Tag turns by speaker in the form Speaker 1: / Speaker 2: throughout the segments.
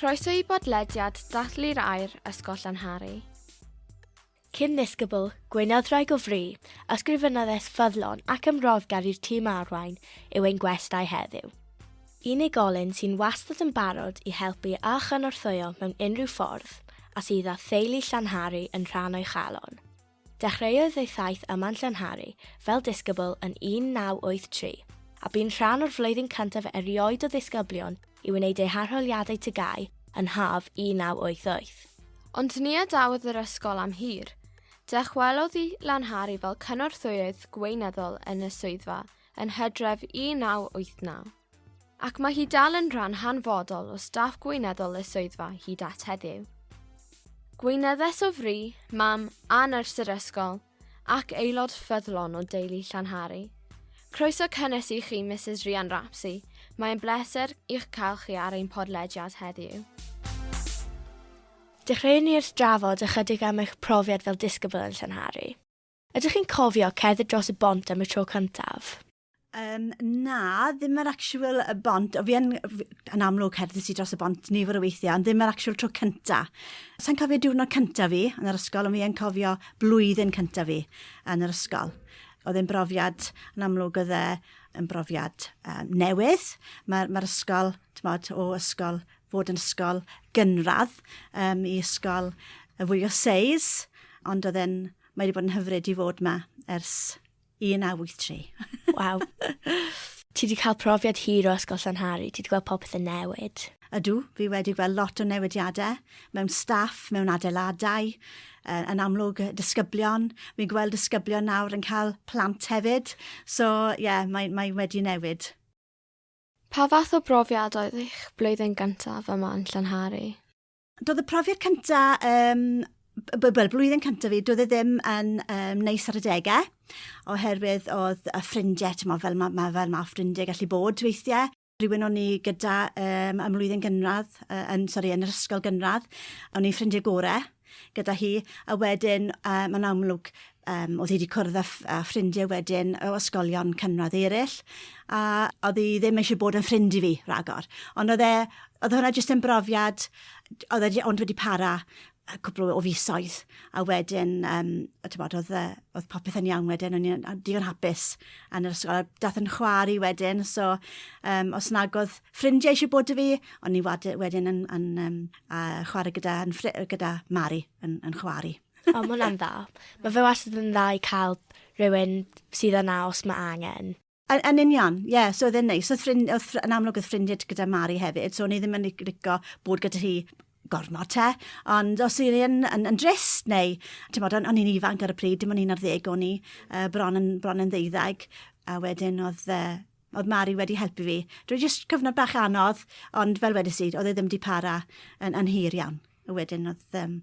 Speaker 1: Croeso i bodlediad Dathlu'r Air, Ysgol Llanhari.
Speaker 2: Cyn ddisgybl, gwynodd rhai gofri, ysgrifennodd es ffyddlon ac ymrodd gar i'r tîm arwain yw ein gwestai heddiw. Unigolyn sy'n wastad yn barod i helpu a chynorthwyo mewn unrhyw ffordd, a sydd â theulu Llanhari yn rhan o'i chalon. Dechreuodd ei thaith yma'n Llanhari, fel disgybl, yn 1983, a bu'n rhan o'r flwyddyn cyntaf erioed o ddisgyblion i wneud eu harholiadau TGAU yn haf 1988. Ond ni
Speaker 1: adawodd yr ysgol am hir. Dychwelodd i Lanhari fel cynorthwyydd gweinyddol yn y swyddfa yn Hydref 1989. Ac mae hi dal yn rhan hanfodol o staff gweinyddol y swyddfa hyd at heddiw. Gweinyddes o fri, mam, a nyrs yr ysgol, ac aelod ffyddlon o deulu Llanhari. Croeso cynnes i chi, Mrs Rhian Rapsey. Mae'n bleser i'ch cael chi ar ein podlediad heddiw.
Speaker 2: Dechreuwn ni wrth drafod ychydig am eich profiad fel disgybl yn Llanhari. Ydych chi'n cofio cerdded dros y bont am y tro cyntaf? Um, na,
Speaker 3: ddim yr actual y bont. Fi yn, yn amlwg cerdded i dros y bont nifer o weithiau, ond ddim yr actual tro cynta. Sa'n cofio diwrnod cynta fi yn yr ysgol, ond fi yn cofio blwyddyn cynta fi yn yr ysgol. Oedd e'n brofiad, yn amlwg oedd e yn brofiad um, newydd. Mae'r ma ysgol, tmod, o ysgol, fod yn ysgol gynradd um, i ysgol y fwy o seis, ond oedd e'n, mae wedi bod yn hyfryd i fod yma ers 1983. Waw.
Speaker 2: Ti wedi cael profiad hir o Ysgol Llanhari, ti wedi gweld popeth yn newid. Ydw, fi wedi
Speaker 3: gweld lot o newidiadau mewn staff, mewn adeiladau, yn amlwg disgyblion. Fi'n gweld disgyblion nawr yn cael plant hefyd, so ie, yeah, mae, mae wedi newid. Pa
Speaker 1: fath o brofiad oedd eich blwyddyn gyntaf yma yn Llanhari? Doedd y
Speaker 3: profiad cyntaf, um, wel, blwyddyn cyntaf fi, doedd e ddim yn um, neis ar y degau, oherwydd oedd y ffrindiau, ti'n fel mae ma, fel ma ffrindiau gallu bod weithiau, rhywun o'n i gyda um, ym mlwyddyn gynradd, uh, yn, sorry, yn yr ysgol gynradd, o'n i'n ffrindiau gorau gyda hi, a wedyn uh, mae'n amlwg Um, oedd hi wedi cwrdd â, â ffrindiau wedyn o ysgolion cynradd eraill, a oedd hi ddim eisiau bod yn ffrind i fi rhagor. Ond oedd e, oedd hwnna jyst yn brofiad, oedd e ond wedi para cwpl o fisoedd, a wedyn, um, a tybod, oedd, e, oedd popeth yn iawn wedyn, o'n i'n digon hapus yn yr ysgol, a dath yn chwar i wedyn, so um, os nag oedd ffrindiau eisiau bod y fi, o'n i wedyn yn, yn um, a chwarae gyda, yn, gyda Mari yn, yn chwari. O, mae hwnna'n dda.
Speaker 2: Mae fe wastad yn dda i cael rhywun sydd yna os mae angen. Yn, yn union,
Speaker 3: ie, yeah, so oedd e'n neis. Oedd ffrind, oedd, yn amlwg oedd ffrindiau gyda Mari hefyd, so o'n i ddim yn licio bod gyda hi gormod te, ond os yw'n yn, yn, yn drist neu, ti'n bod, o'n i'n ifanc ar y pryd, dim ond un ar ddeg o'n i, uh, bron, yn, bron yn ddeuddag, a wedyn oedd uh, Oedd Mari wedi helpu fi. Dwi jyst cyfnod bach anodd, ond fel wedys i, oedd e ddim di para yn, yn hir iawn. A wedyn oedd, um,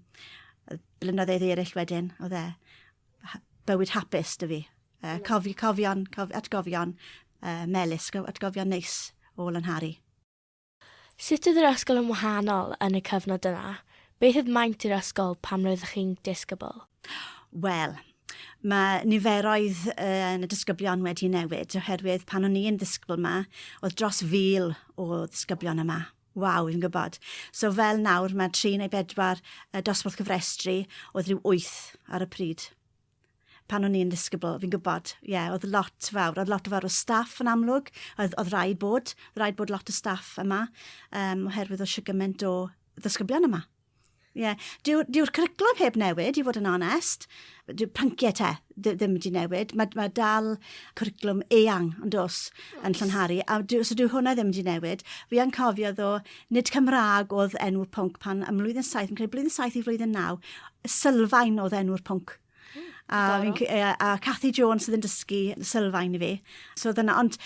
Speaker 3: oedd blynyddoedd eraill wedyn, oedd e bywyd hapus dy fi. Uh, cofi, cofion, cof, atgofion uh, melus, atgofion neis o Lanhari.
Speaker 2: Sut oedd yr ysgol yn wahanol yn y cyfnod yna? Beth oedd maint yr ysgol pan roeddech chi'n disgybl? Wel,
Speaker 3: mae niferoedd yn y disgyblion wedi newid, oherwydd pan o'n i'n ddisgybl yma, oedd dros fil o ddisgyblion yma. Waw, fi'n gwybod. So fel nawr, mae tri neu bedwar dosbarth cyfrestru, oedd rhyw wyth ar y pryd. pan o'n i'n ddisgybl, fi'n gwybod, ie, yeah, oedd lot fawr, oedd lot fawr o staff yn amlwg, oedd, oedd rhaid bod, oedd rhaid bod lot o staff yma, um, oherwydd oedd siwgyment o ddysgyblion yma. Ie, yeah. dyw'r dyw cwriclwm heb newid, i fod yn onest. Dyw'r pynciau te ddim wedi newid. Mae, mae dal cwriclwm eang yn dos yn Llynharu, a dyw, so dyw hwnna ddim wedi newid. Fi yn cofio ddo Nid Cymraeg oedd enw'r pwnc pan ym mlwyddyn 7, yn credu blwyddyn 7 i flwyddyn 9, Sylfaen oedd enw'r pwnc. A, fi'n, a Cathy Jones sydd yn dysgu sylfaen i fi. So dyna, ond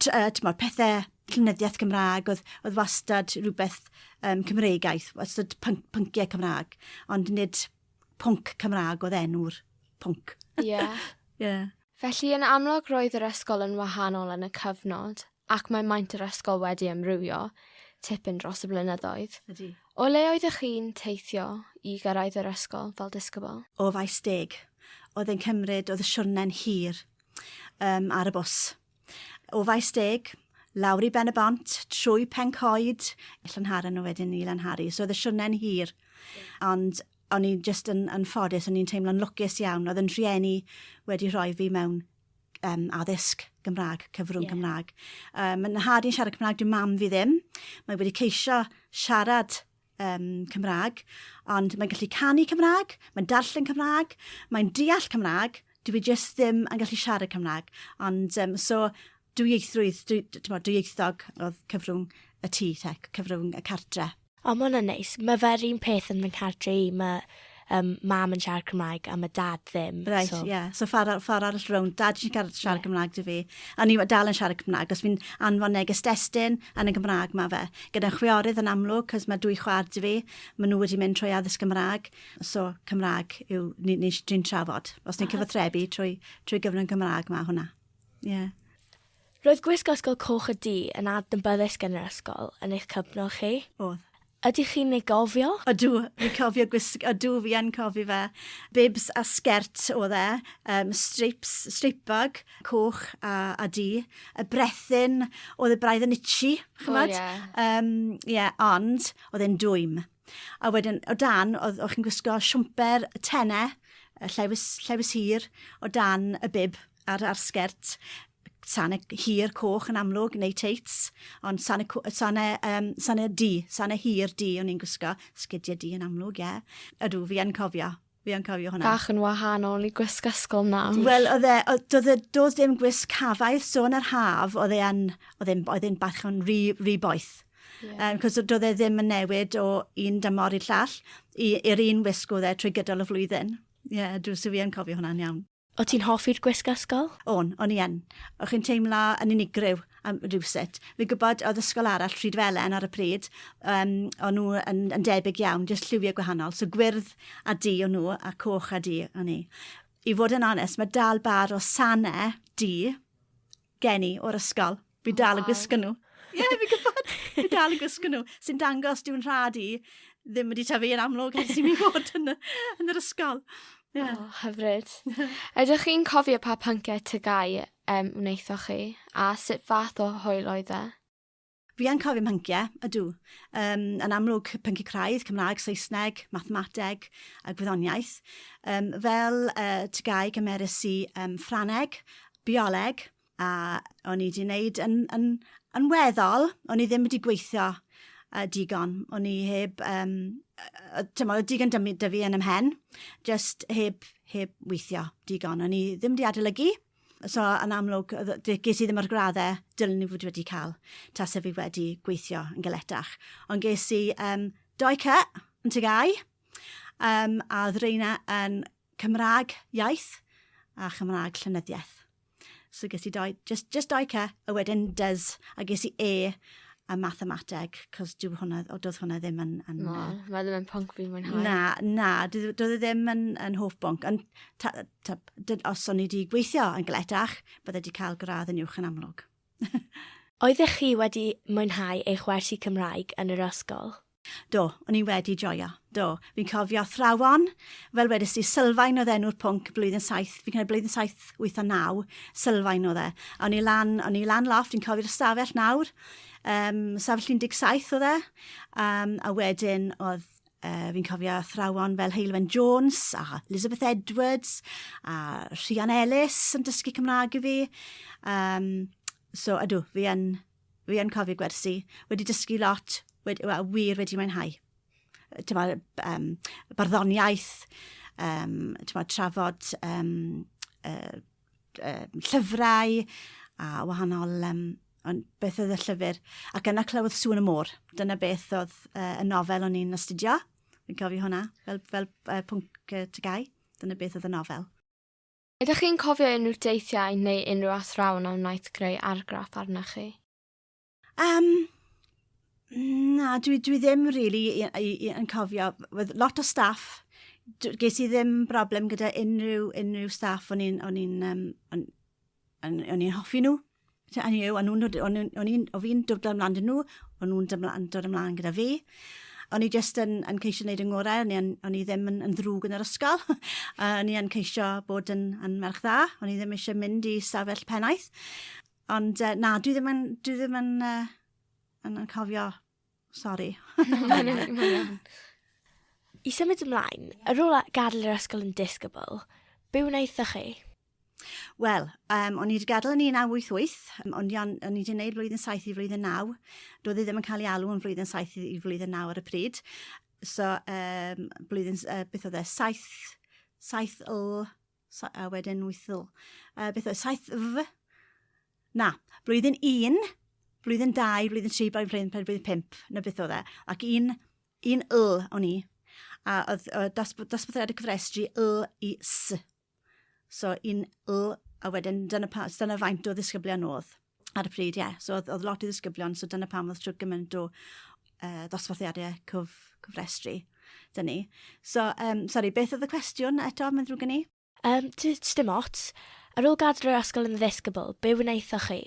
Speaker 3: tymor, pethau llynyddiaeth Gymraeg oedd, oedd wastad rhywbeth um, Cymreigaeth, wastad pync, pynciau Cymraeg, ond nid pwnc Cymraeg oedd enw'r pwnc. Ie. Yeah. yeah.
Speaker 1: Felly yn amlwg roedd yr ysgol yn wahanol yn y cyfnod. ac mae maint yr ysgol wedi amrywio tipyn dros y blynyddoedd. Ydy. O le oeddech
Speaker 3: chi'n
Speaker 1: teithio i gyrraedd yr ysgol fel disgybl? O faes deg.
Speaker 3: Oedd yn cymryd, oedd y siwrne'n hir um, ar y bws. O faes deg, lawr i Ben y Bont, trwy Pencoed, Llanharan nhw wedyn i Lanhari. So oedd y siwrne'n hir. Ond o'n i'n just yn, yn ffodus, o'n i'n teimlo'n lwcus iawn. Oedd yn rhieni wedi rhoi fi mewn um, addysg Gymraeg, cyfrwng yeah. Cymraeg. Um, mae nhad i'n siarad Cymraeg, dwi'n mam fi ddim. Mae wedi ceisio siarad um, Cymraeg, ond mae'n gallu canu Cymraeg, mae'n darllen Cymraeg, mae'n deall Cymraeg, dwi e jyst ddim yn gallu siarad Cymraeg. Ond um, so, dwi eithroedd, dwi, dwi, dwi eithog oedd cyfrwng y tŷ, te, cyfrwng y cartre. O ma' wnna'n neis.
Speaker 2: Ma' fe'r un peth yn fy nghar-dre i ma' yym mam yn siarad Cymraeg a ma' dad ddim. Reit so... Yeah. So ffor
Speaker 3: ar- ffor arall rownd. Dad jyst yn garad siarad yeah. Cymraeg 'da fi. A ni dal yn siarad Cymraeg os fi'n anfon neges destun yn y Gymraeg ma' fe. Gyda'n chwiorydd yn amlwg 'c'os ma' dwy chwaer 'da fi. Ma' nhw wedi mynd trwy addysg Gymraeg. So Cymraeg yw ni ni'n trafod. Os ni'n cyfathrebu trwy trwy gyfrwng Gymraeg ma' hwnna. Yeah. Roedd
Speaker 2: gwisgo Ysgol Coch y Du yn adnabyddus gan yr ysgol yn eich cyfnod chi? Oedd. Ydych
Speaker 3: chi'n ei
Speaker 2: gofio? Ydw, fi'n cofio
Speaker 3: gwisg- ydw fi yn cofio fe. Bibs a sgert oedd e, um, strips, strip bag, coch a, a du. Y brethyn, oedd y braidd yn itchy, chymod? Oh, yeah. um, yeah, ond oedd e'n dwym. A wedyn, o dan, oedd, oedd chi'n gwisgo siwmper tenne, llefus, llefus hir, o dan y bib. ar ar sgert sane hir coch yn amlwg neu teits ond sane sane um, sane di sane hir di o'n i'n gwisgo sgidiau di yn amlwg ie ydw fi yn cofio fi yn cofio hwnna. Bach yn wahanol
Speaker 1: i gwisg ysgol nawr. Wel, oedd e, doedd
Speaker 3: e, doedd dim gwisg hafaidd, so yn yr haf, oedd e'n, oedd e'n, oedd e'n bach yn rhy, rhy boeth. Yeah. Um, cos doedd e ddim yn newid o un dymor i'r llall, i'r un wisg oedd e trwy gydol y flwyddyn. Ie, yeah, dwi'n sy'n fi yn cofio hwnna'n iawn. O ti'n hoffi'r gwisg
Speaker 2: ysgol? O'n, o'n i yn.
Speaker 3: O chi'n teimlo yn unigryw am rhywsut. Fi'n gwybod oedd ysgol arall, Rhyd Felen ar y pryd, um, o'n nhw yn, yn debyg iawn, jyst lliwiau gwahanol. So gwyrdd a du o'n nhw, a coch a du o'n i. I fod yn onest, mae dal bar o sanau du gen i o'r ysgol. Fi dal yn gwisgo nhw. Ie, yeah, fi'n gwybod. Fi dal yn gwisgo nhw. Sy'n dangos diw'n rhad i ddim wedi tyfu yn amlwg ers i mi fod yn, yn yr ysgol. Yeah. Oh, hyfryd.
Speaker 1: Ydych chi'n cofio pa pynciau tygau um, wnaethoch chi a sut fath o hwyl oedd e? Fi yn
Speaker 3: cofio pynciau, ydw. Um, yn amlwg pynciau craidd, Cymraeg, Saesneg, mathemateg a gwyddoniaeth. Um, fel uh, tygau gymerus i um, Ffraneg, bioleg, A o'n i 'di neud yn yn yn weddol, o'n i ddim wedi gweithio yy digon. O'n i heb yym yy yy t'mo' odd digon 'da mi 'da fi yn 'y mhen, jyst heb heb weithio digon. O'n i ddim 'di adolygu, so yn amlwg odd yy... D- ges i ddim yr gradd dylwn i fod wedi ca'l tase fi wedi gweithio yn galetach. Ond ges i yym dou C yn Ty Gy AU yym a odd reina yn Cymra'g iaith a Chymra'g llenyddieth. So ges i dau, just, just dau ce, a wedyn dys, a ges i e a mathemateg, cos dwi hwnna, o, doedd hwnna ddim yn... yn na, uh, mae ddim yn
Speaker 1: pwnc fi'n mwynhau. Na, na,
Speaker 3: doedd e ddim yn, yn hoff bwnc. Ond ta, ta, dyn, os o'n i wedi gweithio yn gletach, bydde wedi cael gradd yn uwch yn amlwg. Oeddech
Speaker 2: chi wedi mwynhau eich wersi Cymraeg yn yr ysgol? Do, o'n i
Speaker 3: wedi joio. Do, fi'n cofio athrawon, fel wedys di, Sylfaen oedd enw'r pwnc blwyddyn 7, fi'n cael blwyddyn 7, 8 a 9, Sylfaen oedd e. A o'n i lan, o'n i lan loft, fi'n cofio'r ystafell nawr, um, ystafell 17 oedd e, um, a wedyn oedd Uh, fi'n cofio athrawon fel Heilwen Jones a Elizabeth Edwards a Rhian Ellis yn dysgu Cymraeg i fi. Um, so, ydw, fi yn Fi yn cofio gwersi, wedi dysgu lot, wedi, well, wir wedi mwynhau. Tyma, um, barddoniaeth, um, tyma, trafod um, uh, uh, llyfrau a wahanol um, ond beth oedd y llyfr. Ac yna clywodd sŵn y môr. Dyna beth oedd uh, y nofel o'n i'n astudio. Fi'n cofio hwnna, fel, fel uh, pwnc uh, tygau. Dyna beth oedd y nofel. Ydych chi'n
Speaker 1: cofio unrhyw deithiau neu unrhyw athrawon a wnaeth greu argraff arnoch chi? Um,
Speaker 3: na, dwi, dwi ddim really i, i, i, yn cofio. With lot o staff, ges i ddim broblem gyda unrhyw, unrhyw staff o'n i'n um, on, on, on hoffi nhw. So, o'n nhw, o'n nhw, o'n nhw, o'n nhw, o'n fi'n dod ymlaen dyn nhw, o'n nhw'n dod ymlaen gyda fi. O'n i jyst yn, yn ceisio gwneud yng ngorau, o'n i, yn, o'n i ddim yn, yn ddrwg yn yr ysgol. o'n i yn ceisio bod yn, yn merch dda, o'n i ddim eisiau mynd i stafell pennaeth. Ond uh, na, dwi ddim yn, dwi ddim yn, uh, yn, yn cofio Sorry. Mae'n iawn.
Speaker 2: I symud ymlaen, yr ôl gadael yr ysgol yn disgybl, byw wnaethoch chi? Wel,
Speaker 3: um, o'n i wedi gadael yn 1988, o'n i, on, o'n i wedi gwneud flwyddyn 7 i flwyddyn 9. Doedd e ddim yn cael ei alw yn flwyddyn 7 i flwyddyn 9 ar y pryd. So, um, blwyddyn, uh, beth oedd e, 7, 7 l So, a wedyn wythil. Uh, beth oedd? Saith F? Na. Blwyddyn un, blwyddyn dau, blwyddyn tri, blwyddyn pedwar, blwyddyn pimp. Na beth oedd e. Ac un, un L o'n i. A oedd, oedd dosbarthiad y cyfrestru L i S. So, un L, a wedyn dyna, pa, dyna faint o ddisgyblion oedd. ar y pryd, ie. Yeah. So, oedd lot i ddisgyblion, so dyna pam oedd trwy gymaint o uh, ddosbarthiadau cyf, cyfrestru dyn ni. So, um, sorry, beth oedd y cwestiwn eto, mae'n ddrwg gen i? Um, just dim
Speaker 2: ots. Ar ôl gadw'r ysgol yn ddisgybl, be wnaethoch chi?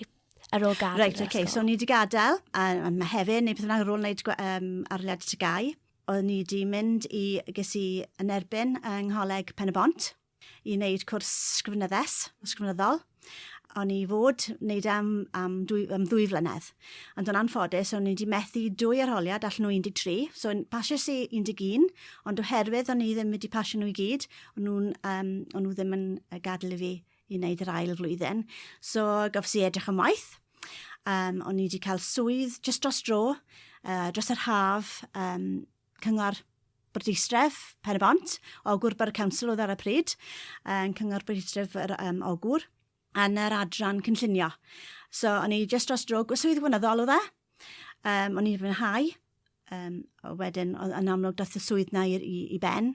Speaker 2: ar ôl gadael right, okay. ysgol. So, ni wedi gadael,
Speaker 3: a, a mae hefyd, neu beth yna, ar ôl wneud um, arliad tygau, oedd ni wedi mynd i, ges i yn erbyn yng Ngholeg Pen y Bont, i wneud cwrs sgrifnyddes, sgrifnyddol. O'n i fod wneud e am, am, dwy, am ddwy flynedd. Ond o'n anffodus, o'n i wedi methu dwy arholiad allan o 13, so pasiais i 11, ond oherwydd o'n i ddim wedi pasio nhw i gyd, o'n, nhw'n, um, o'n nhw ddim yn gadael i fi i wneud yr ail flwyddyn. So gofs i edrych am waith. Um, o'n i wedi cael swydd just dros dro, uh, dros yr haf, um, Cyngor Bwrdeistref Pen-y-bont, Ogwr Borough Council oedd ar y pryd, yn Cyngor Bwrdeistref yr um, Ogwr, yn yr adran cynllunio. So, o'n i just dros drwg, swydd wynyddol oedd e, um, o'n i'n fwynhau, um, wedyn yn amlwg dath y swydd na i, i, i ben,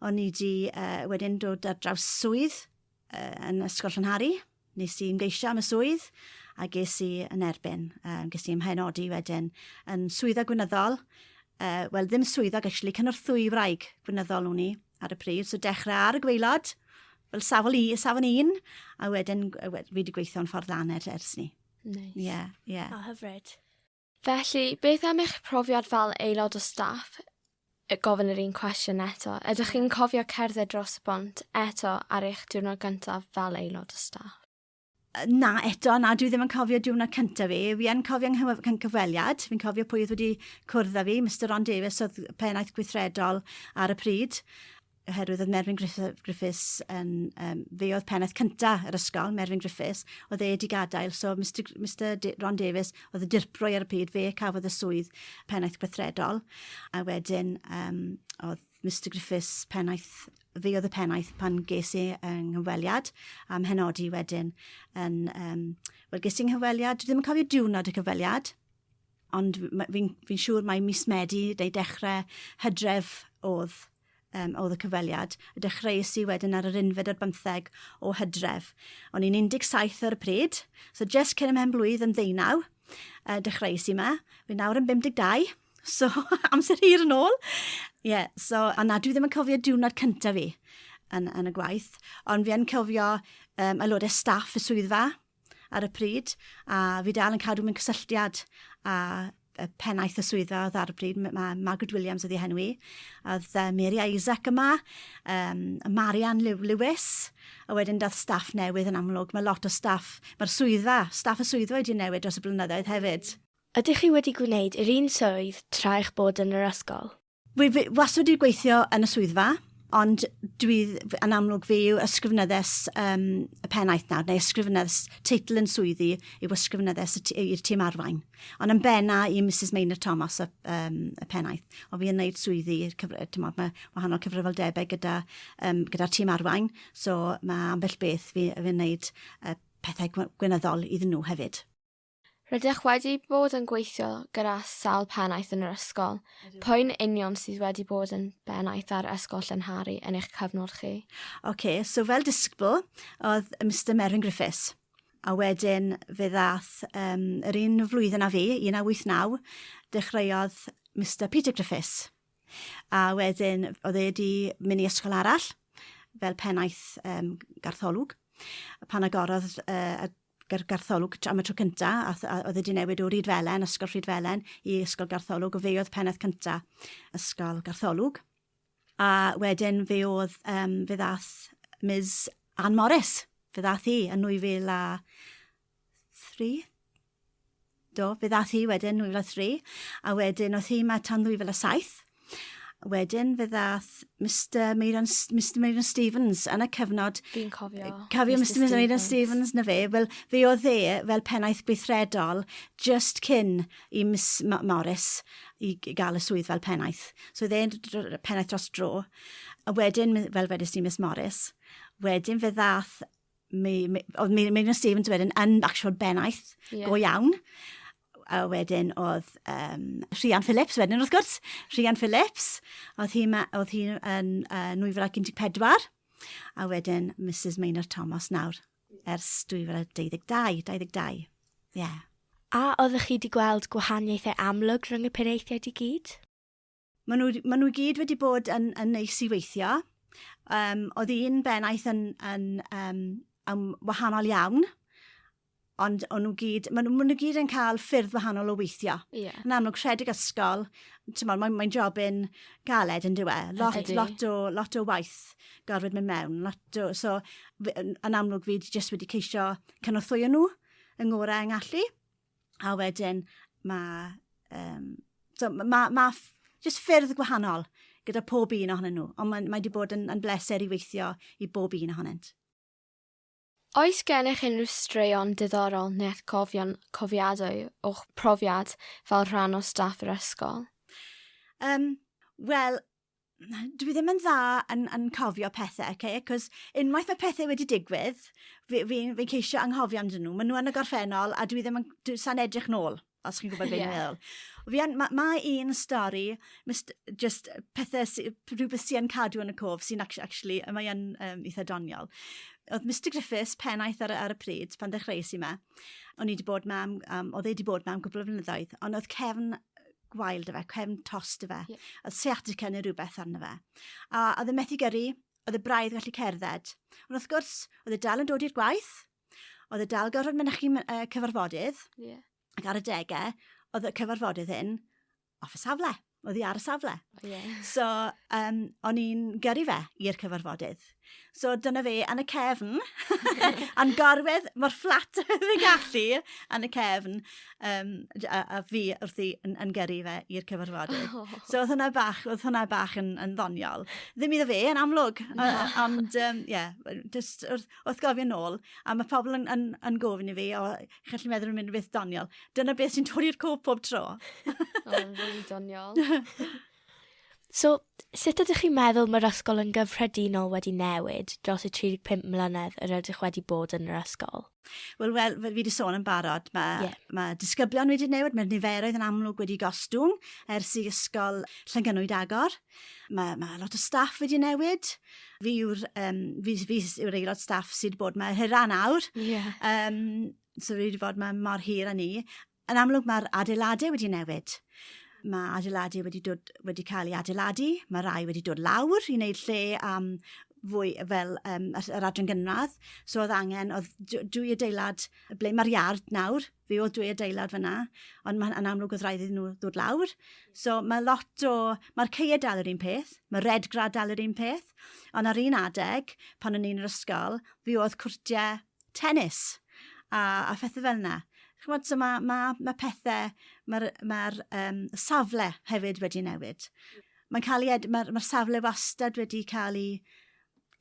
Speaker 3: o'n i wedi uh, wedyn dod ar draws swydd, yn Ysgol Llanhari, nes i ymgeisio am y swydd a ges i yn erbyn. Um, ges i ymhaenodi wedyn yn swydda gwynyddol, uh, wel ddim swyddog actually, cynorthwy i wraig gwynyddol o'n i ar y pryd, so dechrau ar y gweilod, fel safon, i, safon un, a wedyn fi wedi gweithio'n ffordd lan er, ers ni. Nice. Ie, yeah,
Speaker 1: ie. Yeah. O, hyfryd.
Speaker 2: Felly,
Speaker 1: beth am eich profiad fel aelod o staff? Y gofyn yr un cwestiwn eto. Ydych chi'n cofio cerdded dros y bont eto ar eich diwrnod gyntaf fel aelod o staff? na,
Speaker 3: eto, na, dwi ddim yn cofio diwrnod cyntaf fi. Fi yn cofio yng cyfweliad, fi'n cofio pwy oedd wedi cwrdd â fi, Mr Ron Davies oedd pennaeth gweithredol ar y pryd. oherwydd oedd Merfyn Griffiths yn, um, fe oedd pennaeth cynta yr ysgol, Merfyn Griffiths, oedd e wedi gadael, so Mr, Mr Ron Davies oedd y dirprwy ar y pryd, fe cafodd y swydd pennaeth gweithredol, a wedyn um, oedd Mr Griffiths pennaeth fi oedd y pennaeth pan ges i yng nghyfweliad am henodi wedyn yn, um, wel ges i yng nghyfweliad, dwi ddim yn cofio diwrnod y cyfweliad, Ond fi'n fi siŵr mai mis Medi neu dechrau Hydref oedd, um, oedd y cyfweliad. Y dechreuais i wedyn ar yr unfed ar bymtheg o Hydref. O'n i'n 17 ar y pryd, so just cyn y mewn blwydd yn ddeunaw, uh, dechreuais i yma. Fi nawr yn 52, so amser hir yn ôl. Ie, yeah, so, a na, dwi ddim yn cofio diwrnod cyntaf fi yn, yn y gwaith, ond fi yn cofio um, aelodau staff y swyddfa, ar y pryd, a fi dal yn cadw mewn cysylltiad â y pennaeth y swyddfa oedd ar y pryd, mae Margaret Williams oedd ei henw i, a oedd uh, Mary Isaac yma, um, Marian Lewis, a wedyn dath staff newydd yn amlwg. Mae lot o staff, mae'r swyddfa, staff y swyddfa wedi newid dros y blynyddoedd hefyd. Ydych chi wedi
Speaker 2: gwneud yr un swydd tra eich bod yn yr ysgol? Wy fi wastad
Speaker 3: wedi gweithio yn y swyddfa, ond dwi yn amlwg fi yw ysgrifenyddes um, y pennaeth nawr, neu ysgrifenyddes teitl yn swyddi yw ysgrifenyddes i'r tîm arwain. Ond yn benna i Mrs Maynard Thomas y, um, y pennaeth, ond fi yn gwneud swyddi, tymod, mae wahanol cyfrifoldebau gyda, um, gyda tîm arwain, so mae ambell beth fi yn gwneud uh, pethau gwynyddol iddyn nhw hefyd. Rydych
Speaker 1: wedi bod yn gweithio gyda sawl pennaeth yn yr ysgol. Pwy'n union sydd wedi bod yn bennaeth ar Ysgol Llanhari yn eich cyfnod chi? Ok, so fel
Speaker 3: disgybl oedd Mister Meryn Griffiths, a wedyn fe ddaeth um, yr un flwyddyn a fi, 1989, dechreuodd Mister Peter Griffiths. A wedyn oedd e wedi mynd i ysgol arall fel pennaeth um, gartholwg pan agorodd uh, gyda'r gartholwg am y tro cynta, a, a oedd wedi newid o Rydfelen, Ysgol Rhydfelen, i Ysgol Gartholwg, o fe oedd pennaeth cynta Ysgol Gartholwg. A wedyn fe oedd, um, fe ddath Ms Ann Morris, fe ddath hi yn 2003, Do, fe ddaeth hi wedyn 2003, a wedyn oedd hi yma tan 2007. Wedyn fe ddaeth Mister Meiran S- Mister Meiran Stevens yn y cyfnod... Fi'n cofio.
Speaker 1: Cofio Mister Mister Meiran
Speaker 3: Stevens na fe. Wel fe oedd e fel pennaeth gweithredol just cyn i Miss M- Morris i g- gael y swydd fel pennaeth. So oedd e'n d- dr- dr- pennaeth dros dro. A wedyn mi- fel wedest ti Miss Morris. Wedyn fe ddaeth mi, mi, oedd mi, mi, mi Stephen wedi yn, yn actual bennaeth yeah. go iawn. A wedyn oedd um, Rhian Phillips wedyn wrth gwrs. Rhian Phillips, oedd hi'n hi, oedd hi yn uh, 2014. A wedyn Mrs Maynard Thomas nawr ers 2022. 22. Yeah. A oeddech
Speaker 2: chi wedi gweld gwahaniaethau amlwg rhwng y penaethiaid i gyd? Maen nhw,
Speaker 3: maen nhw gyd wedi bod yn, yn neis i weithio. Um, oedd un bennaeth yn, yn, um, yn wahanol iawn, ond o'n nhw gyd, maen nhw, maen nhw gyd yn cael ffyrdd wahanol o weithio. Yeah. Yn amlwg, rhedeg
Speaker 1: ysgol,
Speaker 3: mae'n mae, mae job yn galed yn diwe. Lot, Ydy. lot, o, lot o waith gorfod mynd mewn. Lot o, so, yn amlwg fi jyst wedi ceisio cynorthwyo nhw yng ngorau yng ngallu. A wedyn mae... Um, so mae ma, ma jyst ffyrdd gwahanol gyda pob un ohonyn nhw, ond mae, mae wedi bod yn, yn bleser i weithio i bob un ohonynt.
Speaker 1: Oes gennych unrhyw straeon diddorol neu atgofion cofiadwy o'ch profiad fel rhan o staff yr ysgol? Um,
Speaker 3: Wel, dwi ddim yn dda yn yn cofio pethe oce acos unwaith ma' pethe wedi digwydd fi fi'n fi'n ceisio anghofio amdyn nhw ma' nhw yn y gorffennol a dwi ddim yn dwi sa'n edrych nôl os chi'n gwybod beth dwi'n meddwl. Fi yn ma' ma' un stori mist- jyst pethe sy rhywbeth sy yn cadw yn y cof sy'n acti- actually yy mae yn yym itha doniol. O'dd Mister Griffiths pennaeth ar y ar y pryd pan ddechreues i 'ma o'n i 'di bod 'ma am am o'dd e 'di bod 'ma am gwpwl o flynyddoedd on' o'dd cefn gwael dy fe, cefn tos dy fe. Yeah. Oedd sciatica neu rhywbeth arno fe. A oedd yn methu gyrru, oedd y braidd gallu cerdded. Ond wrth gwrs, oedd y dal yn dod i'r gwaith, oedd y dal gorfod mynychu uh, cyfarfodydd, yeah. ac ar y degau, oedd y cyfarfodydd hyn off y safle, oedd hi ar y safle. Yeah. So, um, o'n i'n gyrru fe i'r cyfarfodydd. So dyna fe, yn y cefn. A'n gorwedd, mor fflat oedd y gallu, yn y cefn. Um, a, a, fi wrth i yn, yn gyrru fe i'r cyfarfodydd. Oh. So oedd hwnna bach, oedd hwnna bach yn, yn ddoniol. Ddim iddo fe, yn amlwg. No. Ond, ie, um, yeah, just wrth, wrth gofio nôl. A mae pobl yn, yn, yn gofyn i fi, o, chi'n gallu meddwl yn mynd beth doniol. Dyna beth sy'n torri'r cof pob tro. Oedd yn fwy
Speaker 1: doniol.
Speaker 2: So, sut ydych chi'n meddwl mae'r ysgol yn gyffredinol wedi newid dros y 35 mlynedd yr ydych wedi bod yn yr ysgol? Wel, wel, fel
Speaker 3: fi wedi sôn yn barod, mae, yeah. mae disgyblion wedi newid, mae'r niferoedd yn amlwg wedi gostwng ers i ysgol Llangynwyd agor. Mae, mae lot o staff wedi newid. Fi yw'r um, fi, fi yw'r aelod staff sydd bod mae hyrra nawr. Yeah. Um, so wedi bod mae mor hir â ni. Yn amlwg mae'r adeiladau wedi newid. Mae adeiladau wedi, dod, wedi cael ei adeiladu, mae rai wedi dod lawr i wneud lle am fwy fel um, yr adran gynradd. So oedd angen, oedd dwy adeilad, ble mae'r iard nawr, fe oedd dwy adeilad fyna, ond mae'n yn amlwg oedd rhaid iddyn nhw ddod lawr. So mae lot o, mae'r ceir dal yr un peth, mae red grad dal yr un peth, ond ar un adeg, pan o'n i'n yr ysgol, fe oedd cwrtiau tennis a a phethe fel 'na. Ch'mod so ma' ma' ma' pethe ma'r ma'r yym safle hefyd wedi newid. Mae'n ca'l 'i ed- ma'r ma'r safle wastad wedi ca'l 'i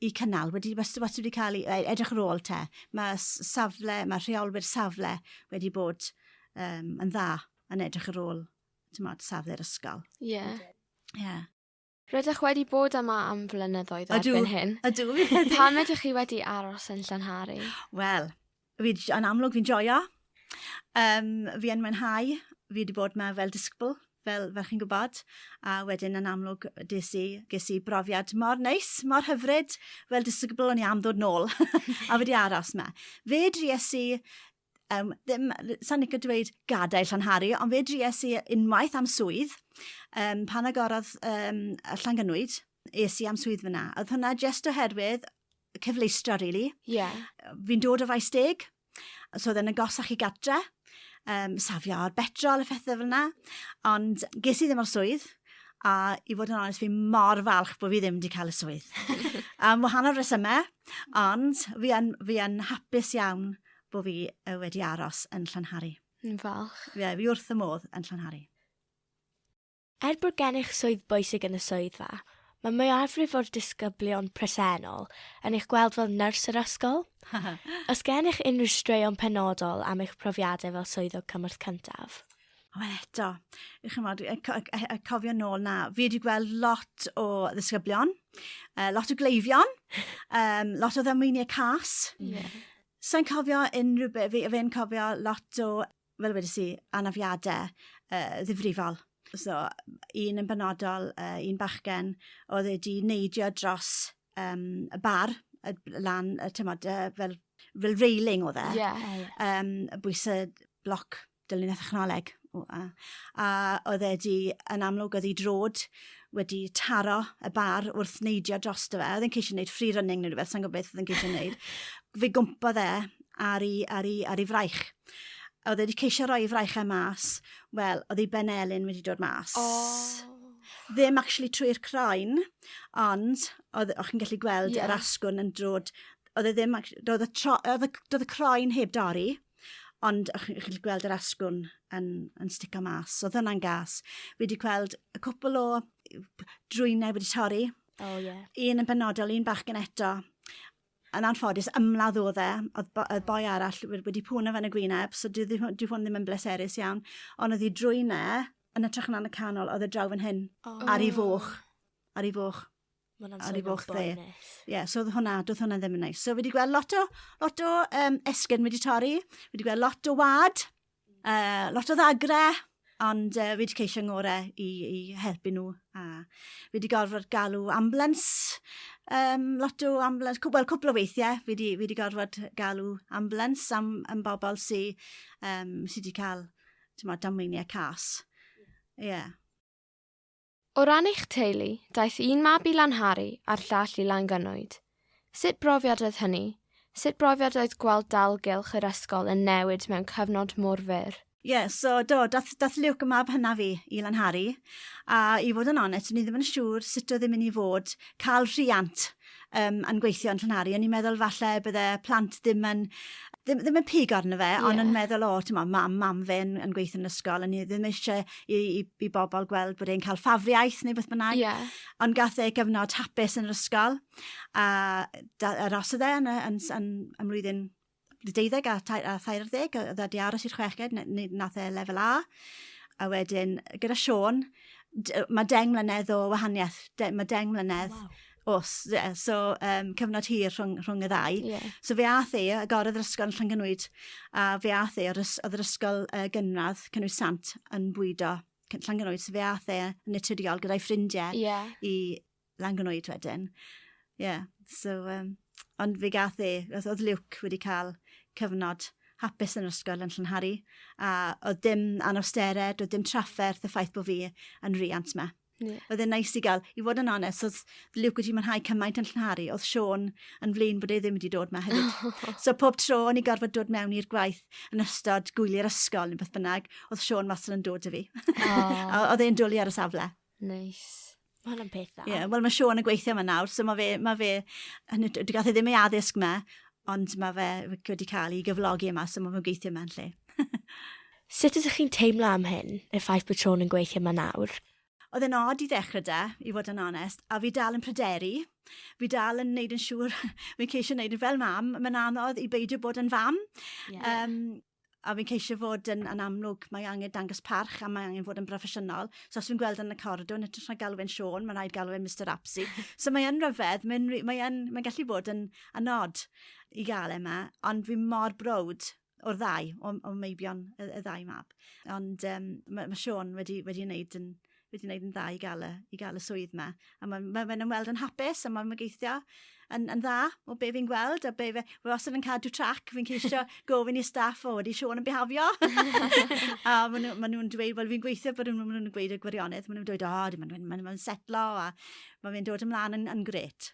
Speaker 3: 'i cynnal wedi wasto- wastad wedi ca'l 'i ei edrych ar ôl 'te. Ma' s- safle ma' rheolwyr safle wedi bod yym yn dda yn edrych ar ôl t'mod safle'r ysgol. Ie. Ie.
Speaker 1: Rydych wedi bod yma am flynyddoedd ydw, erbyn hyn. Ydw, fi wedi. Pam
Speaker 3: ydych chi wedi
Speaker 1: aros yn Llanhari? Wel,
Speaker 3: yn amlwg fi'n joio. Um, fi yn mwynhau. Fi wedi bod yma fel disgybl, fel, fel chi'n gwybod. A wedyn yn amlwg des i, ges i brofiad mor neis, mor hyfryd. Fel disgybl o'n i am ddod nôl. a wedi aros yma. Fe dries i um, ddim, sa'n ni'n dweud gadael Llanhari, ond fe dries i unwaith am swydd, um, pan agorodd um, Llangynwyd, es i am swydd fyna. Oedd hwnna just oherwydd cyfleistra, really. Yeah. Fi'n dod o faes deg, so oedd yn agosach i gatra, um, safio ar betrol a phethau fel yna, ond ges i ddim o'r swydd, a i fod yn onest, fi mor falch bod fi ddim wedi cael y swydd. Am wahanol resymau, ond fi yn, fi yn hapus iawn bod fi uh, wedi aros yn Llanhari. Yn falch.
Speaker 1: Ie, yeah, fi wrth y modd
Speaker 3: yn Llanhari.
Speaker 2: Er bod gennych swydd bwysig yn y swyddfa, mae mwyafrif o'r disgyblion presennol yn eich gweld fel nyrs yr ysgol. Os gennych unrhyw straeon penodol am eich profiadau fel swyddog cymorth cyntaf? Wel eto,
Speaker 3: chi'n chymod, y, co- y, y cofio nôl na, fi wedi gweld lot o ddisgyblion, uh, lot o gleifion, um, lot o ddamweiniau cas. Yeah. Sa'n cofio unrhyw beth, fi, fi'n cofio lot o, fel wedi si, anafiadau uh, ddifrifol. So, un yn benodol, uh, un bachgen, oedd wedi neidio dros um, y bar, y, lan, y, tymod, uh, fel, fel railing oedd e. Yeah. Um, bwysau bloc dilyn y thechnoleg. A, a oedd e di, yn amlwg oedd ei drod wedi taro y bar wrth neidio dros dy fe. Oedd e'n ceisio gwneud free running neu rhywbeth, sa'n gwybod beth oedd e'n ceisio gwneud. Fe gwmpa dde ar ei, ar ei, ar ei fraich. Oedd e wedi ceisio rhoi ei fraichau e mas, wel, oedd ei ben elin wedi dod mas. Oh. Ddim actually trwy'r croen, ond oedd, o'ch chi'n gallu gweld yeah. yr asgwrn yn drod oedd e ddim, oedd y, tro, oedd y, oedd y croen heb dorri. Ond o'ch chi'n gallu gweld yr asgwrn yn, yn stico mas. Oedd hwnna'n gas. Fi wedi gweld y cwpl o drwynau wedi torri. Oh, yeah. Un yn benodol, un bach gen eto. Yn anffodus, ymladd oedd e. Oedd bo, boi arall wedi pwn o fan y gwyneb, so dwi, hwn ddim yn bleserus iawn. Ond oedd hi drwynau, yn y trach yn y canol, oedd y draw fan hyn. Oh. Ar ei foch. Ar ei foch. Ma' wnna'n swnio'n boenus. Ar ei foch fe. Ie so odd hwnna do'dd hwnna ddim yn neis. So fi 'di gweld lot o lot o yym esgyrn wedi torri, fi 'di gweld lot o wa'd, yy lot o ddagrau, ond yy fi 'di ceisio 'ngore i i helpu nhw a fi 'di gorfod galw ambulans yym lot o ambulans cw- wel cwpwl o weithie fi 'di fi 'di gorfod galw ambulans am am bobol sy yym sy 'di ca'l t'mod damweinie cas. Ie. Ie.
Speaker 1: O ran eich teulu, daeth un mab i Lanhari a'r llall i Langynwyd. Sut brofiad oedd hynny? Sut brofiad oedd gweld dalgylch yr ysgol yn newid mewn cyfnod mor fyr? Ie, so do,
Speaker 3: daeth, daeth Luke, y mab hynaf fi, i Lanhari, a i fod yn onest, o'n i ddim yn siŵr sut oedd e'n mynd i fod cael rhiant um, yn gweithio yn Llanhari, o'n i'n meddwl falle bydde plant ddim yn ddim, ddim yn pig arno fe, yeah. ond yn meddwl, o, ti'n meddwl, mam, mam fe yn, yn gweithio yn ysgol, a ni ddim eisiau i, i, i bobl gweld bod e'n cael ffafriaeth neu beth bynnag. Yeah. Ond gath e gyfnod hapus yn yr ysgol, a da, arosodd e yn, yn, yn, yn, yn mlwyddyn deuddeg a thair ar ddeg, oedd wedi aros i'r chweched, nath e lefel A. A wedyn, gyda Sean, mae deng mlynedd o wahaniaeth, de, mae deng mlynedd wow. os, yeah, so um, cyfnod hir rhwng, rhwng y ddau. Yeah. So fe ath e, agorodd yr ysgol yn Llangynwyd, a fe ath e, oedd yr ysgol uh, gynradd, cynnwys sant, yn bwydo Llangynwyd, so fe ath e yn naturiol gyda'i ffrindiau yeah. i Langynoed wedyn. Ie, yeah, so, um, ond fe gath e, oedd Luke wedi cael cyfnod hapus yn yr ysgol yn Llynharu, a oedd dim anawstered, oedd dim trafferth y ffaith bod fi yn riant yma. Yeah. Oedd e'n nice i gael, i fod yn onest, oedd Luke wedi mwynhau cymaint yn llynharu, oedd Sean yn flin bod e ddim wedi dod yma hefyd. so pob tro o'n i gorfod dod mewn i'r gwaith yn ystod gwyliau'r ysgol neu beth bynnag, oedd Sean wastad yn dod i fi. Oh. oedd e'n dwlu ar y safle. Nice.
Speaker 1: Mae hwnna'n peth
Speaker 2: dda. Yeah, Wel mae Sean yn gweithio
Speaker 3: yma nawr, so mae fe, mae fe, dwi gath e ddim ei addysg yma, ond mae fe wedi cael ei gyflogi yma, so mae fe'n gweithio yma'n lle.
Speaker 2: Sut ydych chi'n teimlo am hyn, y ffaith bod Sean yn gweithio yma nawr? Oedd e'n od i
Speaker 3: ddechrau da, i fod yn onest, a fi dal yn pryderu. Fi dal yn neud yn siŵr, fi'n ceisio neud yn fel mam, mae'n anodd i beidio bod yn fam. Yeah. Um, a fi'n ceisio fod yn, yn amlwg, mae angen dangos parch a mae angen fod yn broffesiynol. So os fi'n gweld yn y coridor, yn ytrach na galw fe'n Sean, mae'n rhaid galw fe'n Mr Apsy. so mae yn rhyfedd, mae'n mae mae gallu bod yn anod i gael yma, e ond fi mor brod o'r ddau, o, o meibion y, y ddau mab. Ond um, mae, mae Sean wedi, wedi wneud yn, wedi gwneud yn dda i gael y, i gael y swydd yma. A mae'n ma fe ymweld yn hapus, a mae'n mygeithio yn, yn dda o be fi'n gweld, a be fe, fe wastad yn cadw trac, fi'n ceisio gofyn i staff o wedi Siôn yn bihafio. a maen nhw'n ma nhw dweud, wel fi'n gweithio bod nhw'n nhw gweud y gwirionedd, maen nhw'n dweud, o, oh, maen nhw'n ma nhw setlo, a mae fe'n dod ymlaen yn, yn gret.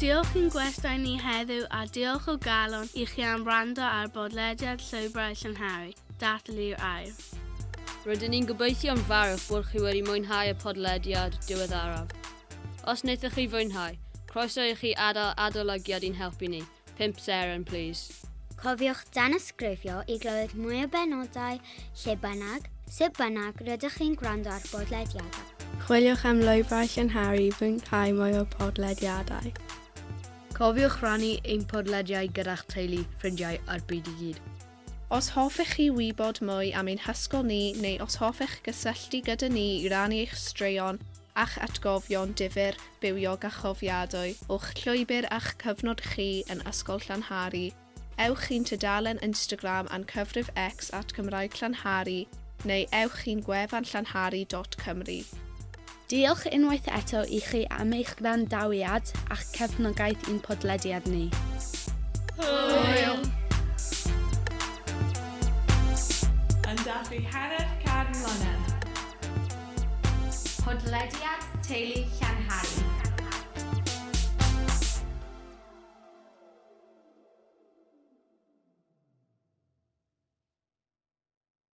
Speaker 4: Diolch i'n gwestai ni heddiw a diolch o galon i chi am wrando ar bodlediad Llwybrau Llynhari, Dathlu'r Air. Rydyn ni'n
Speaker 5: gobeithio yn fawr eich bod chi wedi mwynhau y podlediad diweddaraf. Os wnaethoch chi fwynhau, croeso i chi adael adolygiad i'n helpu ni. 5 seren, please. Cofiwch
Speaker 6: danysgrifio i glywed mwy o benodau lle bynnag, sut bynnag rydych chi'n gwrando ar bodlediadau. Chwiliwch am
Speaker 1: lwybrau llynharu i fwynhau mwy o podlediadau.
Speaker 5: Cofiwch rannu ein podlediau gyda'ch teulu, ffrindiau a'r byd i gyd. Os hoffech
Speaker 7: chi wybod mwy am ein hysgol ni neu os hoffech gysylltu gyda ni i rannu eich straeon a'ch atgofion difyr, bywiog a chofiadwy o'ch llwybr a'ch cyfnod chi yn Ysgol Llanhari, ewch i'n tudalen Instagram a'n cyfrif X at Gymraeg Llanhari neu ewch i'n gwefan llanhari dot cymru.
Speaker 4: Diolch unwaith eto i chi am eich gwrandawiad a'ch cefnogaeth i'n podlediad ni.
Speaker 7: Hwyl!
Speaker 8: Yn dathlu hanner can mlynedd.
Speaker 9: Podlediad Teulu Llanhari.